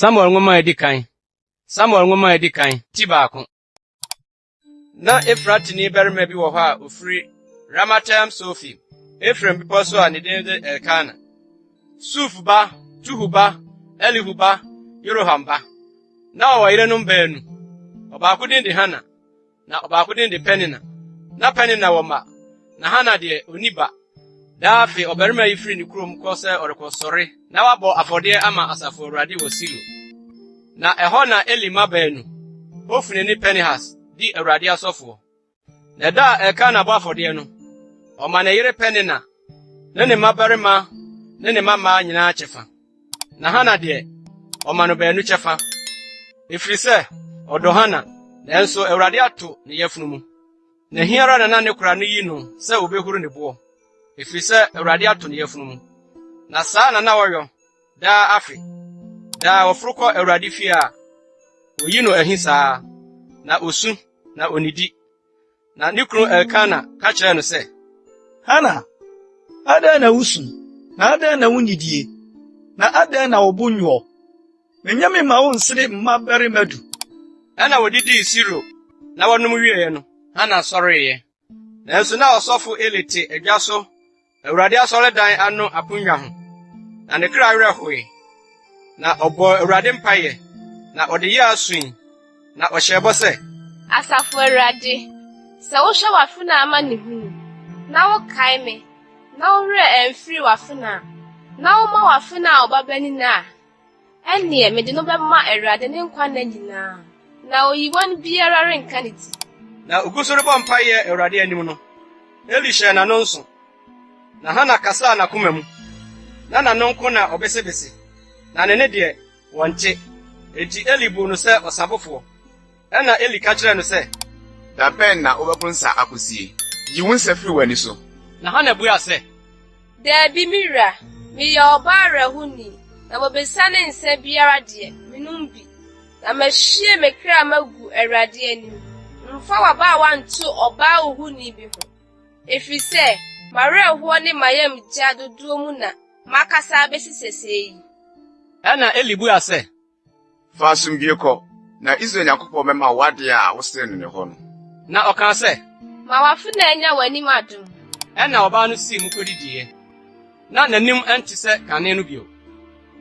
Samuel Nwoma a Edi Kan Samuel Nwoma a Edi Kan, Ti Baako. Ná Efratini barima bi wɔ hɔ a ofiri Ramataim Sofi, Efraim bepɔ so a ne din de Elkana, Suf ba, Tuhu ba, Elihu ba, Yeroham ba. Na ɔwɔ yerenom baanu. Ɔbaako din de Hana, Na ɔbaako din de Penina. Na Penina wɔ mma, na Hana deɛ, ɔnni ba. Daa afe, ɔbarima yi firi ne kurom kɔ sɛ ɔrekɔsɔre na wabɔ afɔdeɛ ama Asafo Awurade wɔ Silo. Na ɛhɔ na Eli mma baanu, Hofni ne Pinehas, di Awurade asɔfoɔ. Na ɛda a Elkana bɔ afɔdeɛ no, ɔma ne yere Penina ne ne mmabarima ne ne mmammaa nyinaa kyɛfa. Na Hana deɛ, ɔma no baanu kyɛfa. Ɛfiri sɛ, ɔdɔ Hana, nanso Awurade ato ne yafunu mu. Na ɛhe ara na na ne kora no yi no sɛ ɔbɛhuru ne boɔ, ɛfiri sɛ Awurade ato ne yafunu mu. Na saa na na ɔyɔ daa afe. Daa ɔforo kɔ Awurade fie a, ɔyi no ahi saa, na ɔsu, na ɔnnidi. Na ne kunu Elkana ka kyerɛɛ no sɛ, Hana, adɛn na wusu, na adɛn na wunnidie, na adɛn na wo bo nnwoɔ? Menyɛ me mma wo nsere mma barima du. Ɛna wɔdidii Silo, na wɔnom wieeɛ no, Hana sɔreeɛ. Nanso na ɔsɔfo Eli te adwa so Awurade asɔredan ano aponnwa ho, na ne kra werɛ hoe. Na ɔbɔɔ Awurade mpaeɛ, na ɔde yɛɛ aso yi, na ɔhyɛɛ bɔ sɛ. Asafo Awurade, sɛ wohwɛ w'afenaa amanehunu, na wokae me, na wo werɛ amfiri w'afenaa, na woma w'afenaa ɔbabanin a, Ɛnneɛ mede no bɛma Awurade ne nkwa nna nyinaa, na oyiwan biara renka ne ti. Na ɔgu so rebɔ mpaeɛ Awurade anim no, Eli hyɛɛ n'ano nso, na Hana kasaa n'akoma mu, na n'ano nko na ɔbesebese, na ne nne deɛ, wɔnte. Enti Eli buu no sɛ ɔsabofoɔ. Ɛnna Eli ka kyerɛɛ no sɛ. Da bɛn na wobɛpo nsa akosie? Yi wo nsa firi w'ani so. Na Hana buaa sɛ. Daabi, me wura, meyɛ ɔbaa werɛhoni, na wɔbɛsiane nsã biara deɛ, menom bi. Na mahwie me kra magu Awurade anim. Mfa w'abaawa nto ɔbaa ohoni bi ho, ɛfiri sɛ m'awerɛhoɔ ne m'ayamgya dodoɔ mu na makasa abɛsi sɛsɛɛ yi. Ɛnna Eli buaa sɛ. Fa asomdwoe kɔ, na Israel Nyankopɔn bɛma wo ade a wosrɛɛ no no hɔ no. Na ɔkaa sɛ. Ma w'afenaa nnya w'anim adom. Ɛnna ɔbaa no sii mu kodidiiɛ, na n'anim nte sɛ kane no bio.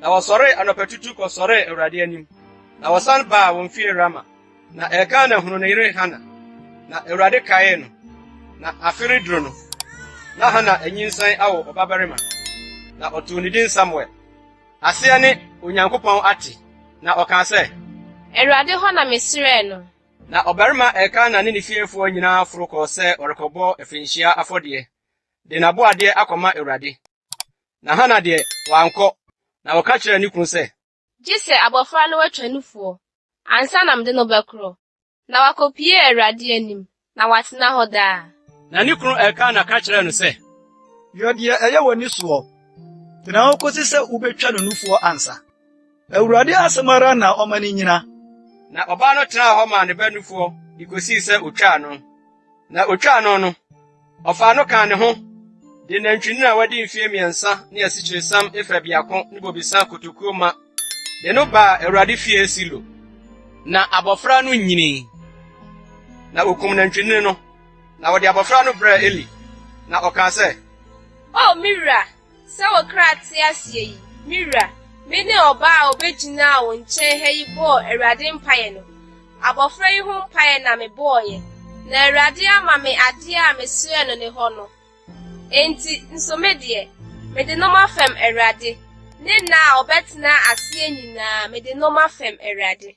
Na wɔsɔree anɔpatutu kɔsɔree Awurade anim, na wɔsan baa wɔn fie Rama. Na Elkana hunuu ne yere Hana, na Awurade kaee no, na afe reduru no, na Hana anyinsɛn awo ɔbabarima, na ɔtoo ne din Samuel. Aseɛ ne, Onyankopɔn ate. Na ɔkaa sɛ. Awurade hɔ na mesrɛɛ no. Na ɔbarima Elkana ne ne fiefoɔ nyinaa foro kɔɔ sɛ ɔrekɔbɔ afirinhyia afɔdeɛ, de n'aboadeɛ akɔma Awurade. Na Hana deɛ, wankɔ, na ɔka kyerɛɛ ne kunu sɛ. Gye sɛ abɔfra no atwa nufoɔ, ansa na mede no bɛkorɔ. Na wakopue Awurade anim, na watena hɔ daa. Na ne kunu Elkana ka kyerɛɛ no sɛ. Yɔ deɛ ɛyɛ w'ani soɔ. Tena hɔ kɔsi sɛ wobɛtwa no nufoɔ ansa. Awurade asɛm ara na ɔma no nnyina. Na ɔbaa no tenaa hɔ maa ne ba nufoɔ de kɔsii sɛ ɔtwaa no. Na otwaa no no, ɔfaa no kaa ne ho de nantwinini a wadi mfe mmiɛnsa ne asikyiresiam efa biako ne bobesa kotokuo ma de no baa Awurade fie Silo. Na abɔfra no nyinii. Na okum nantwinini no, na ɔde abɔfra no brɛɛ Eli, na ɔkaa sɛ, O me wura, Sɛ wo kra te aseɛ yi, me wura, me ne ɔbaa a ɔbɛgyinaa wo nkyɛn ha yi bɔɔ Awurade mpaeɛ no, abɔfra yi ho mpaeɛ na mebɔeɛ, na Awurade ama me adeɛ a mesrɛɛ no ne hɔ no. Enti, nso me deɛ, mede no mafam Awurade, ne nna a ɔbɛtena aseɛ nyinaa, mede no mafam Awurade.